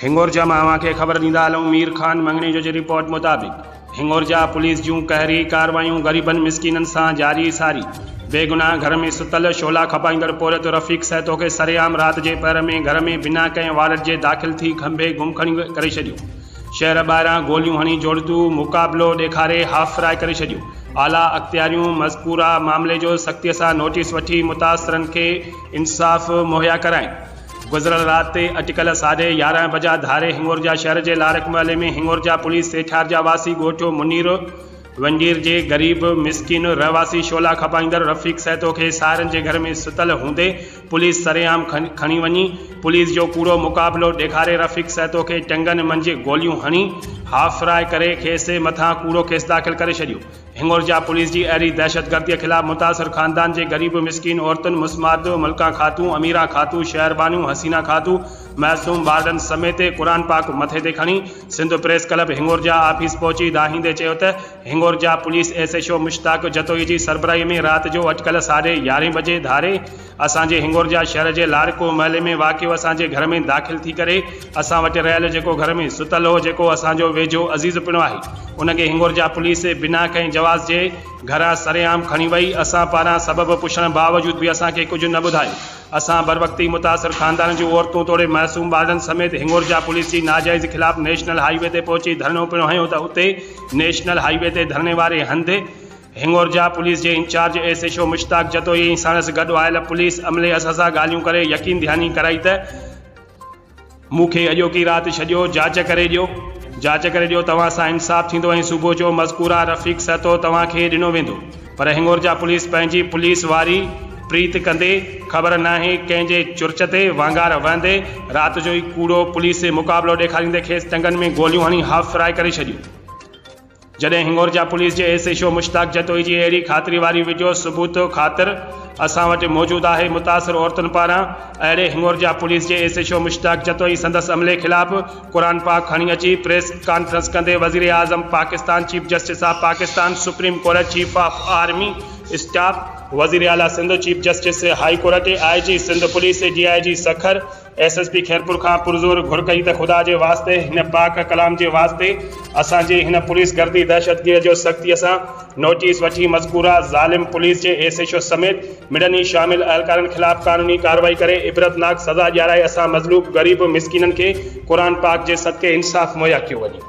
هنڱورجا مان اوهان کي خبر ڏيندا هلون مير خان مڱڻي جو جي رپورٽ مطابق هنڱورجا پوليس جون قهري ڪارروايون غريبن مسڪينن سان جاري ساري بيگناهه گهر ۾ ستل شعلا کپائيندڙ پورهيت رفيق سهتو کي سرعام رات جي پهر ۾ گهر ۾ بنا ڪنهن وارنٽ جي داخل ٿي کنڀي گم کڻي ڪري ڇڏيو شهر ٻاهران گوليون هڻي جوڙتو مقابلو ڏيکاري هاف فرائي ڪري ڇڏيو اعليٰ اختياريون مذڪوره معاملي جو سختي سان نوٽيس وٺي متاثرن کي انصاف مهيا ڪرائين. گذريل رات تي اٽڪل ساڍي يارهن بجا ڌاري هنڱورجا شهر جي لارڪ محلي ۾ هنڱورجا پوليس سيٺار جا واسي ڳوٺ منير ونڊير جي غريب مسڪين رهواسي شعلا کپائيندڙ رفيق سهتو کي ساهرن جي گهر ۾ ستل هوندي پوليس سرعام کڻي وڃي پوليس جو ڪوڙو مقابلو ڏيکاري رفيق سهتو کي ٽنگن منجهه گوليون هڻي هاف فراء ڪري کيس مٿان ڪوڙو ڪيس داخل ڪري ڇڏيو هنڱورجا پوليس جي اهڙي دهشتگرديء خلاف متاثر خاندان جي غريب مسڪين عورتن مسمات ملڪه خاتون، اميره خاتون، شهر بانو، حسينه خاتون، معصوم ٻارڙن سميت قرآن پاڪ مٿي تي کڻي Sindh press club Hingorja office پهچي دانهيندي چيو ته Hingorja police S H O Mushtaq Jatoi جي سربراهي ۾ رات جو اٽڪل ساڍي يارهين بجي ڌاري اسان جي هنڱورجا شهر جي لارڪوه محلي ۾ واقعو اسان جي گهر ۾ داخل ٿي ڪري اسان وٽ رهيل جيڪو گهر ۾ ستل هو جيڪو اسان جو ويجهو عزيز پڻ آهي ان کي هنڱورجا پوليس بنا ڪنهن جواز جي گهران سرعام کڻي وئي اسان پاران سبب پڇڻ باوجود به اسان کي ڪجهه نه ٻڌايو اسان بروقتي متاثر خاندان جون عورتون توڙي معصوم ٻارڙن سميت هنڱورجا پوليس جي ناجائزي خلاف نيشنل هاء وي تي پهچي ڌرڻو پڻ هنيو ته اتي نيشنل هاء وي تي ڌرڻي واري هنڌ هنڱورجا پوليس جي incharge S H O Mushtaq Jatoi ۽ ساڻس گڏ آيل پوليس عملي اساسا ڳالهيون ڪري يقين دهاني ڪرائي ته مون کي اڄوڪي رات ڇڏيو جاچ ڪري ڏيو جاچ ڪري ڏيو توهان سان انصاف ٿيندو ۽ صبح جو مذڪوره رفيق سهتو توهان کي ڏنو ويندو پر هنڱورجا پوليس پنهنجي پوليس واري پريت ڪندي خبر ناهي ڪنهن جي چرچ تي وانگار وهندي رات جو ئي ڪوڙو پوليس مقابلو ڏيکاريندي کيس ٽنگن ۾ گوليون هڻي هاف فرائي ڪري ڇڏيو. جڏهن هنڱورجا پوليس جي S H O Mushtaq Jatoi جي اهڙي خاطري واري وڊيو ثبوت خاطر اسان وٽ موجود آهي متاثر عورتن پاران اهڙي هنڱورجا پوليس جي S H O Mushtaq Jatoi سندس عملي خلاف قرآن پاڪ کڻي اچي پريس ڪانفرنس ڪندي وزيراعظم Pakistan chief justice of Pakistan supreme court chief of army staff وزيراعليٰ Sindh chief justice high court I G Sindh police D I G Sukkur S S P Khairpur کان پرزور گهر ڪئي ته خدا جي واسطي هن پاڪ ڪلام جي واسطي اسان جي هن پوليس گردي دهشتگير جو سختي سان نوٽيس وٺي مذڪوره ظالم پوليس جي ايس ايڇ او سميت مڙن ئي شامل اهلڪارن خلاف قانوني ڪاروائي ڪري عبرتناڪ سزا ڏيارائي اسان مظلوب غريب مسڪينن کي قرآن پاڪ جي صدقي انصاف مهيا ڪيو وڃي.